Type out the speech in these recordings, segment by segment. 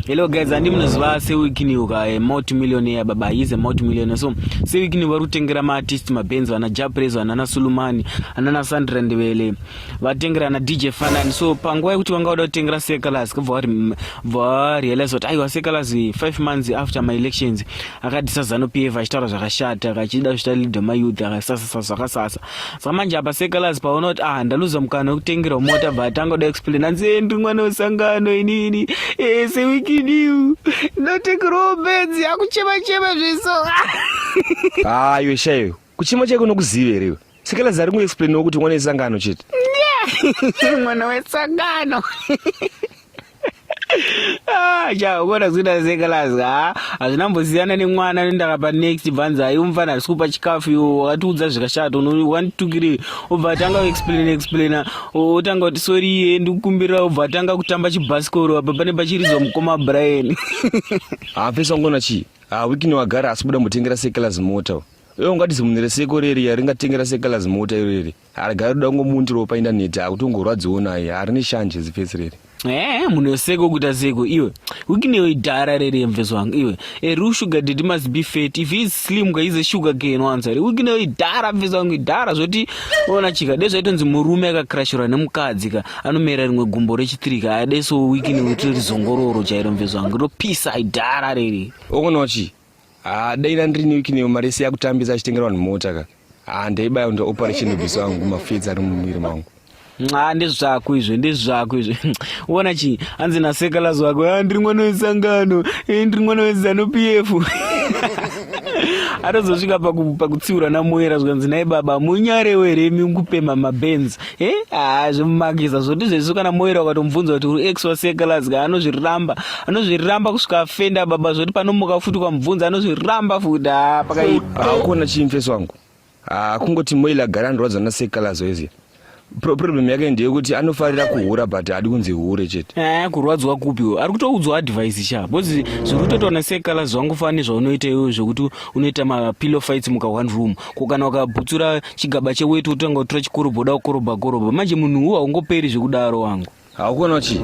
Hello guys, andi munoziva sewikiniwo ka eh, multi millionaire baba he is a multi millionaire so sewikiniwo vari kutengera maartist mabenzi vana japrez vanana sulumani anana sandra ndevele vatengera ana dj fanani so panguva yekuti vanga vada kutengera secalas kubva varealize kuti aiwa secalas eh, five months after my elections akadisa zanu pf achitaura zvakashata akachida zvita leader mayouth akasasasa zvakasasa samanje apa sekalaz paona kuti ah ndaluza mukana wekutengerwa mota but tangoda explain hanzi endi eh, mwana wesangano inini eh, sewikidiu ndotengerwawo benzi akuchema chema zviso ah iwe shaiwe kuchema chaiko nokuziva here iwe sekalaz ari kuexplainawo kuti mwana wesangano chete mwana wesangano chaona ah, kuzoita sekalasi ha hazvina mbosiyana nemwana nendaka panext bvanza ayi umfana havisi kupa chikafu iwo wakatiudza zvikashata wanditukiri obva atanga kuexplaina explaina otanga kuti sori iye ndikukumbirira obva atanga kutamba chibhasikoro apa pane pachirizwa mukoma brian hapesa ngona chii ha wikini wagara asi buda mbotengera sekalasi mota iwe ungatizimune resekoreri yaringatengera sekalasi mota irori Arega ruda kungomuundira ropa indaneti akutongorwadziwo naye harini shanje zifesi riri. Eh, munoseko kuita seko iwe. Ukinewe idhara rere mvezo wangu iwe. A real sugar daddy must be fat. If he is slim ka is a sugar cane once. Ukinewe idhara mvezo wangu idhara zvoti ona chika dai zvaitonzi murume akakrashura nemukadzi ka anomera rimwe gumbo rechitiri ka ade so ukinewe tiri zongororo chairo mvezo wangu. Ropisa idhara rere. Ukonochi. Ah, dai ndiri newiki neyo mari yese yakutambisa achitengera vanhu mota ka. Ah, ndaibaya ndo operation bhiso wangu mafidzi ari mumwiri mangu. Nxa ndezvako izvo ndezvako izvo. Uona chi hanzi na sekalazi wako ah ndiri mwana wesangano, eh ndiri mwana wezano PF. atozosvika pakutsiura namoera zvikanzi naye baba munyarewo here imi kupema mabenzi he haa zvemumagiza zvoti zvesu kana moera ukatomubvunza kuti uri ex wasekalazga anozviramba anozviramba kusvika afenda baba zvoti panomuka futi ukamubvunza anozviramba futi haa pakaipa hakuna chimfesi wangu haa kungoti moila gara andirwadza nasekalazo iziya Pro- problem yake ndeyekuti anofarira kuhura but hadi kunzi hure chete Eh, kurwadzwa kupi uyo ari kutoudzwa advice sha bcause zviri kutoitwa nasekala zvangu fani zvaunoita iwe zvekuti unoita mapillow fights muka one room ko kana ukabutsura chigaba cheweti wotanga kutora chikorobha uda kukorobha korobha manje munhu uwo haungoperi zvekudaro wangu haukuona chi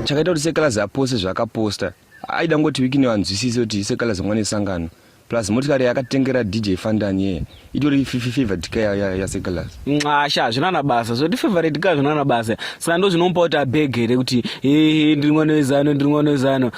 chakaita kuti sekalazi apose zvaakaposta aida ngoti wikini vanzwisise kuti sekalazi mwana esangano plus motikari yakatengera dj fandani yeye itori favorite ka yasekalazi nxasha hazvina na basa zvoti favorite ka hazvina na basa saka ndo zvinomupa kuti abhege here kuti hehe ndiri mwana wezano ndiri mwana wezano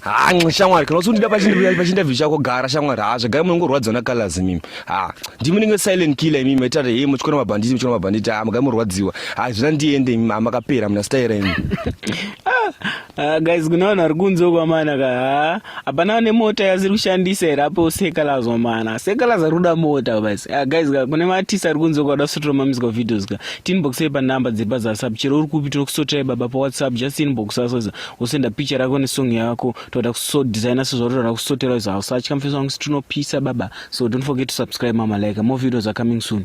haa nxi shamwari kana usundida pachinterview chako gara shamwari haa zvagara munongorwadziwa nacolors imimi haa ndimi ndinge silent killer imimi maita kuti hei muchikona mabhanditi muchikona mabhanditi haa magara murwadziwa haa zvina ndiende imimi haa makapera muna staira imimi Uh, guys kuna vanhu vari kunze uko amana ka haa hapana ane mota yasiri kushandisa here apo sekalaz amana sekalaz ari kuda mota basi uh, guys ka kune maartist ari kunze uko ada kusotera mamizical videos ka tinboxei panumber dziri pazasap chero uri kupi tinokusoterai baba pawhatsapp just inbox asoza wosenda picha rako nesong yako toda kuso designer sezvauritoda kusotera izo hausatya mfesi wangu sitinopisa baba so don't forget to subscribe mama like more videos are coming soon